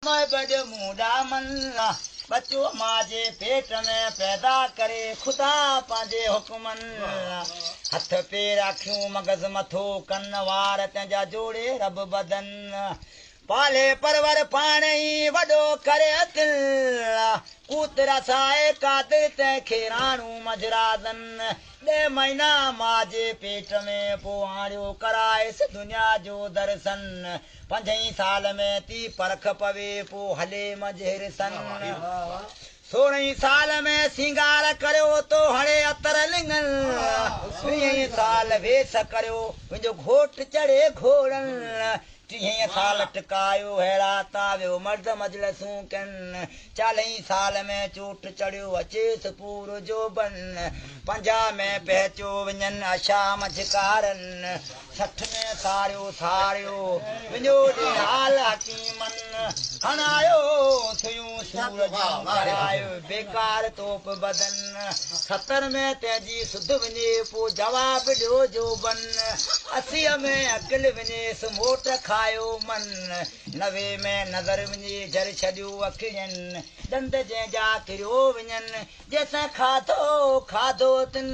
مئي بڊ مون ڏامن لا ٻچو ماء جي پيٽ ۾ پيدا ڪري خدا پنهنجي حڪمن لا هٿ پير اکيون مغز مٿو ڪن وار تنهن جا جوڙي رب بدن لا پالي پرور پاڻ ئي وڏو ڪري اتن لا قوت رسائي قادر تنهن کي راڻو مجرازن ڏهه مهينا ماء جي پيٽ ۾ پوء آڻيو ڪرائيس دنيا جو درسن پنجئين سال ۾ تي پرک پوي، پو هلي منجهير سن. سورهين سال ۾ سينگار ڪريو، تو هڻي عطر لڱن. ويهين سال ويس ڪريو، ويندو گهوٽ چڙهي گهوڙن. ٽيهين سال ٽڪايو ههڙا، تا ويو مرد مجلسون ڪن. چالهين سال ۾ چوٽ چڙهيو، اچيس پورو جوڀن. پنجاهه ۾ پهچيو، وڃن عشا منجهه ڪارن. سٺ ۾ ساڙيو ساڙيو وڃو ڏي حال حڪيمن هڻايو سيون سور جون ڪرايو بيڪار توپ بدن ستر ۾ تنهنجي سڌ وڃي پو جواب ڏيو جو بن اسيء ۾ عقل وڃيس موٽ کايو من نوي ۾ نظر وڃي جر ڇڏيو اکين ڏند جنهن جا ڪريو وڃن جيسين کاڌو کاڌو تن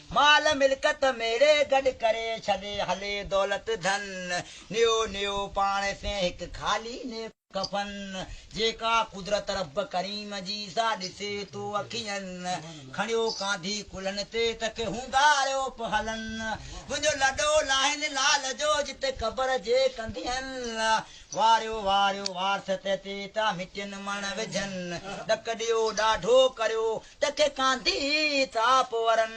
مال ملڪت ميڙي گڏ ڪري ڇڏي هلي دولت ڌن نيو نيو پاڻ سين هڪ خالي ني ڪفن جيڪا قدرت رب ڪريم جي سا ڏسي تو اکين کڻيو ڪانڌي ڪلهن تي ته کي هونگاريو پ هلن منهنجو لڏو لاهين لال جو جتي قبر جي ڪنڌين واريو واريو وارث تي تي ته مٽين مڻ وجهن ڏڪ ڏيو ڏاڍو ڪريو ٽڪي ڪانڌي ٿاپ ورن،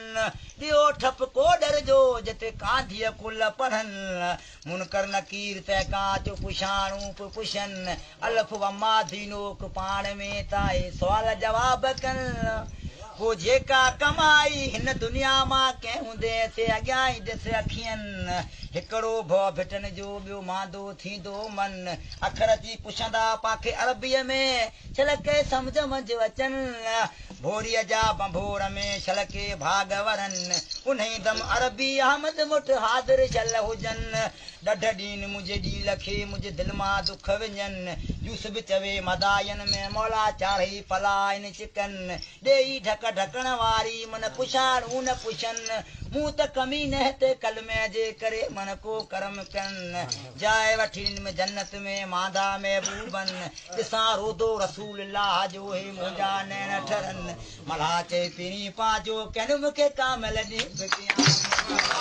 ٻيو ٺپ ڪوڏر جو، جتي ڪانڌيء ڪل پڙهن. منڪر نڪير تنهن کان چو پڇاڻون پيو پڇن، الف و ماڌي نوڪ پاڻ ۾ ته اهي سوال جواب ڪن. پوء جيڪا ڪمائي هن دنيا مان ڪئين هوندين، سي اڳيان ئي ڏس اکين. هڪڙو ڀؤ ڀٽن جو، ٻيو ماندو ٿيندو من. اکر اچي پڇندا پاکي عربيء ۾، ڇلڪي سمجهه منجهه اچن. ڀوريء جا ڀنڀور ۾ ڇلڪي ڀاڳ ورن. انهيء دم عربي احمد مٺ حاضر شل هجن. ڏڍ ڏين منهنجي ڏيل کي منهنجي دل مان دک وڃن. يوسف چوي مدائين ۾ مولا چاڙهي پلائن چڪن. ڏيئي ڍڪ ڍڪڻ واري من پڇاڙ اون پڇن مون ته ڪمي نهت ڪلمي جي ڪري من ڪو ڪرم ڪن جاء وٺين م جنت ۾ مانڌا محبوبن ڏسان روضو رسول الله جو هي منهنجا نيڻ ٺرن ملاح چئي پيرين پان جو ڪين م کي ڪامل ڏي م ڪيان مصطفيٰ